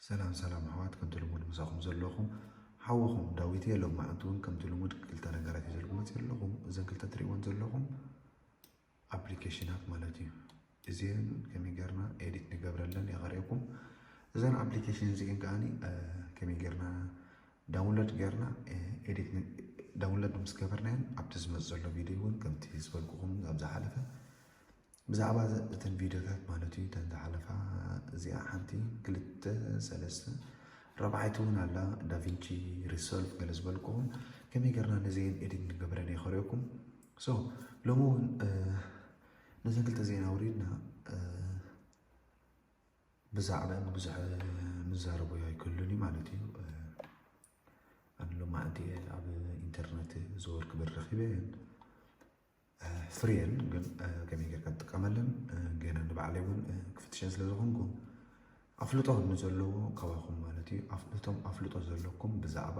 ሰላም ሰላም ኣሕዋት ከምቲ ልሙድ ምሳኹም ዘለኹም ሓወኹም ዳዊት እየ ሎማዕንቲ እውን ከምቲ ልሙድ ክልተ ነገራት እዩ ዘልኩመፅ ዘለኹም እዘን ክልተ ትሪእዎን ዘለኹም ኣፕሊኬሽናት ማለት እዩ። እዚን ከመይ ጌርና ኤዲት ንገብረለን እየ ከርእየኩም። እዘን ኣፕሊኬሽን እዚን ከዓኒ ከመይ ጌርና ዳውንሎድ ጌርና ኤዲት ዳውንሎድ ምስ ገበርናየን ኣብቲ ዝመፅ ዘሎ ቪድዮ እውን ከምቲ ዝበልኩኹም ኣብ ዝሓለፈ ብዛዕባ እተን ቪድዮታት ማለት እዩ እተን ዝሓለፋ እዚኣ ሓንቲ ክልተ ሰለስተ ረብዓይቲ እውን ኣላ ዳቪንቺ ሪሶልቭ ገለ ዝበልኩኹም ከመይ ጌርና ነዚን ኤዲት ንገብረን እየ ከርእየኩም። ሶ ሎሚ እውን ነዘን ክልተ ዜና ኣውሪድና ብዛዕባን ብዙሕ ምዛረቦ ኣይክሉን እዩ ማለት እዩ ኣነ ሎማዕንቲ ኣብ ኢንተርነት ዘወር ክብል ረኪበ ፍርየን ግን ከመይ ጌርካ ትጥቀመለን ገና ንባዕለይ እውን ክፍትሸን ስለ ዝኾንኩ ኣፍልጦ ንዘለዎ ከባኹም ማለት እዩ እቶም ኣፍልጦ ዘለኩም ብዛዕባ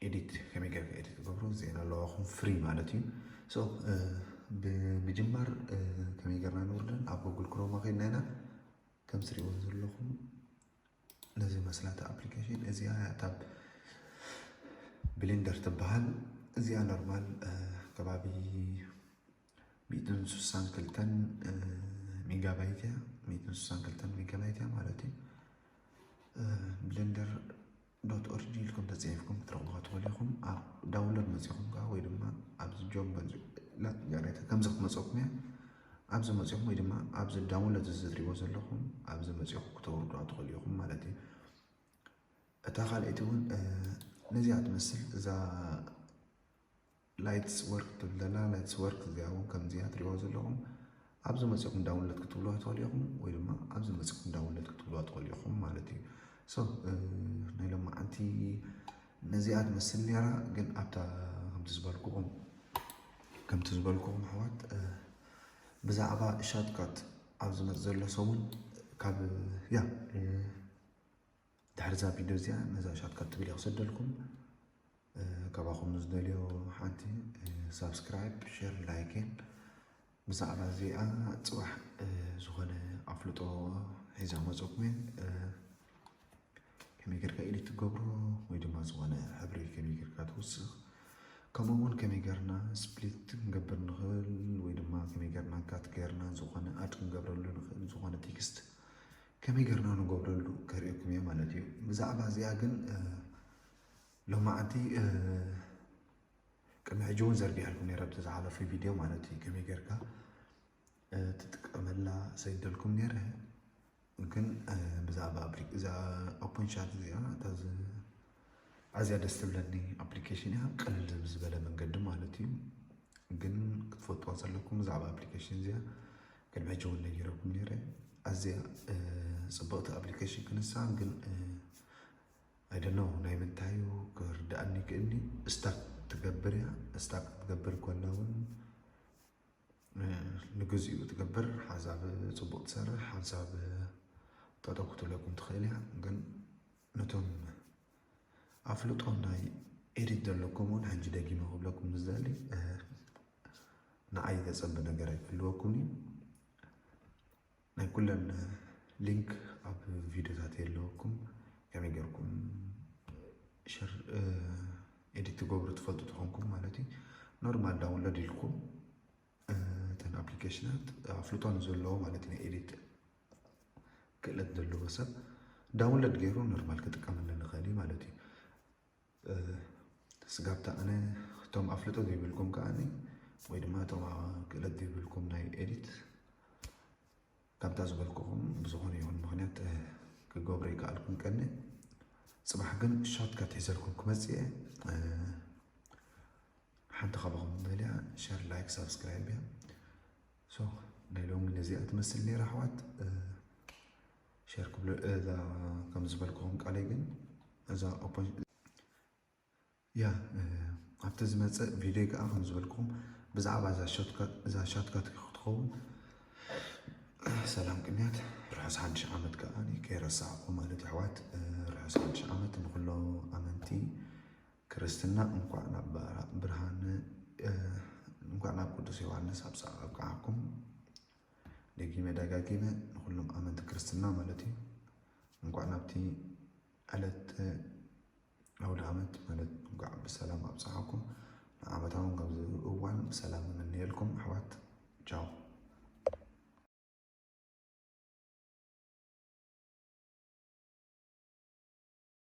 ኤዲት ከመይ ገርካ ኤዲት ክገብሮ ዜና ኣለዋኹም ፍሪ ማለት እዩ ሶ ብምጅማር ከመይ ገርና ንውርደን ኣብ ጎግል ክሮማ ከድና ኢና ከም ትሪእዎ ዘለኹም ነዚ መስላታ ኣፕሊኬሽን እዚኣ ያታብ ብሊንደር ትበሃል እዚኣ ኖርማል ከባቢ ሚእትን ስሳን ክልተን ሜጋባይት እያ ሚእትን ስሳን ክልተን ሜጋባይት እያ ማለት እዩ ብሊንደር ዶት ኦርጂ ኢልኩም ተጻሒፍኩም ክትረኽቡኻ ትኽእሉ ኢኹም። ኣብ ዳውንሎድ መጺኹም ከዓ ወይ ድማ ኣብዚ ጆብ ላት ጋሬታ ከምዚ ክመፀኩም እያ ኣብዚ መፂኹም ወይ ድማ ኣብዚ ዳውንሎድ እዚ ትሪእዎ ዘለኹም ኣብዚ መፂኹም ክተውርዱዋ ትኽእሉ ኢኹም ማለት እዩ። እታ ካልኣይቲ እውን ነዚኣ ትመስል እዛ ላይትስ ወርክ ትብል ዘላ ላይትስ ወርክ እዚኣ እውን ከምዚኣ ትሪእዋ ዘለኹም ኣብዚ መፂኹም ዳውንሎድ ክትብልዋ ትኽእሉ ኢኹም ወይ ድማ ኣብዚ መፂኹም ዳውንሎድ ክትብልዋ ትኽእሉ ኢኹም ማለት እዩ ሶ ናይ ሎማዓንቲ ነዚኣ ትመስል ነራ ግን ኣብታ ከምቲ ዝበልኩኹም ከምቲ ዝበልኩኹም ኣሕዋት ብዛዕባ ሻትካት ኣብ ዝመፅ ዘሎ ሰሙን ካብ ያ ድሕሪዛ ቪድዮ እዚኣ ነዛ ሻትካት ትብል እየ ክሰደልኩም ካባኹም ዝደልዮ ሓንቲ ሳብስክራይብ ሸር ላይክን ብዛዕባ እዚኣ ፅባሕ ዝኾነ ኣፍልጦ ሒዛ መፀኩም ከመይ ጌርካ ኢዲት ትገብሮ ወይ ድማ ዝኾነ ሕብሪ ከመይ ጌርካ ትውስኽ ከምኡ እውን ከመይ ጌርና ስፕሊት ክንገብር ንኽእል ወይ ድማ ከመይ ጌርና ካት ጌርና ዝኾነ ኣድ ክንገብረሉ ንኽእል ዝኾነ ቴክስት ከመይ ገርና ንገብረሉ ከርእኩም እየ ማለት እዩ ብዛዕባ እዚኣ ግን ሎማዓንቲ ቅድሚ ሕጂ እውን ዘርጊሐልኩም ነረ ኣብቲ ዝሓለፉ ቪድዮ ማለት እዩ ከመይ ጌርካ ትጥቀመላ ሰይደልኩም ነረ ግን ብዛዕባ እዛ ኦፕን ቻት እዚኣ እታ ኣዝያ ደስ ትብለኒ ኣፕሊኬሽን እያ ቅልል ብዝበለ መንገዲ ማለት እዩ ግን ክትፈልጥዋ ዘለኩም ብዛዕባ ኣፕሊኬሽን እዚኣ ቅድሚ ሕጂ እውን ነጊረኩም ነይረ ኣዝያ ፅብቕቲ ኣፕሊኬሽን ክንሳ ግን ኣይደኖ ናይ ምንታይ እዩ ክርድኣኒ ክእኒ ስታክ ትገብር እያ ስታክ ክትገብር ኮላ እውን ንግዚኡ ትገብር ሓንሳብ ፅቡቕ ትሰርሕ ሓንሳብ ጠጠው ክትብለኩም ትኽእል እያ ግን ነቶም ኣፍልጦ ናይ ኤዲት ዘለኩም እውን ሕጂ ደጊመ ክብለኩም ዝደሊ ንዓይ ዘጸቢ ነገር ኣይክህልወኩም እዩ ናይ ኩለን ሊንክ ኣብ ቪድዮታት የለወኩም ከመይ ጌርኩም ሸር ኤዲት ትገብሩ ትፈልጡ ትኾንኩም ማለት እዩ ኖርማል ዳውንሎድ ኢልኩም እተን ኣፕሊኬሽናት ኣፍልጦ ንዘለዎ ማለት ናይ ኤዲት ክእለት ዘለዎ ሰብ ዳውንሎድ ገይሩ ኖርማል ክጥቀመሉ ንኽእል እዩ ማለት እዩ ስጋብታ ኣነ እቶም ኣፍልጦ ዘይብልኩም ከዓ ወይ ድማ እቶም ክእለት ዘይብልኩም ናይ ኤዲት ከምታ ዝበልኩኹም ብዝኾነ ይኹን ምክንያት ክገብሮ ይከኣልኩም ቀኒ ፅባሕ ግን ሻርትካት ሒዘልኩም ክመፅእ እየ ሓንቲ ካባኹም በልያ ሸር ላይክ ሳብስክራይብ እያ ሶክ ናይ ሎሚ ነዚኣ ትመስል ነይራ ኣሕዋት ሸር ክብሎ እዛ ከም ዝበልክኹም ቃለይ ግን እዛ ያ ኣብቲ ዝመፅእ ቪድዮ ከዓ ከም ዝበልክኹም ብዛዕባ እዛ ሻትካት ክትኸውን ሰላም ቅንያት ርሑስ ሓድሽ ዓመት ከዓ ከይረሳዕኹ ማለት ኣሕዋት ርሑስ ሓድሽ ዓመት ንኩሎ ኣመንቲ ክርስትና እንኳዕ ናብ ብርሃነ እንኳዕ ናብ ቅዱስ ዮሐንስ ኣብፀ ኣብቅዓኩም ደጊመ ደጋጊመ ንኩሎም ኣመንቲ ክርስትና ማለት እዩ እንኳዕ ናብቲ ዕለት ኣውደ ዓመት ማለት እንኳዕ ብሰላም ኣብፀዓኩም ንዓመታዊ ካብዚ እዋን ብሰላም እምነየልኩም ኣሕዋት ቻው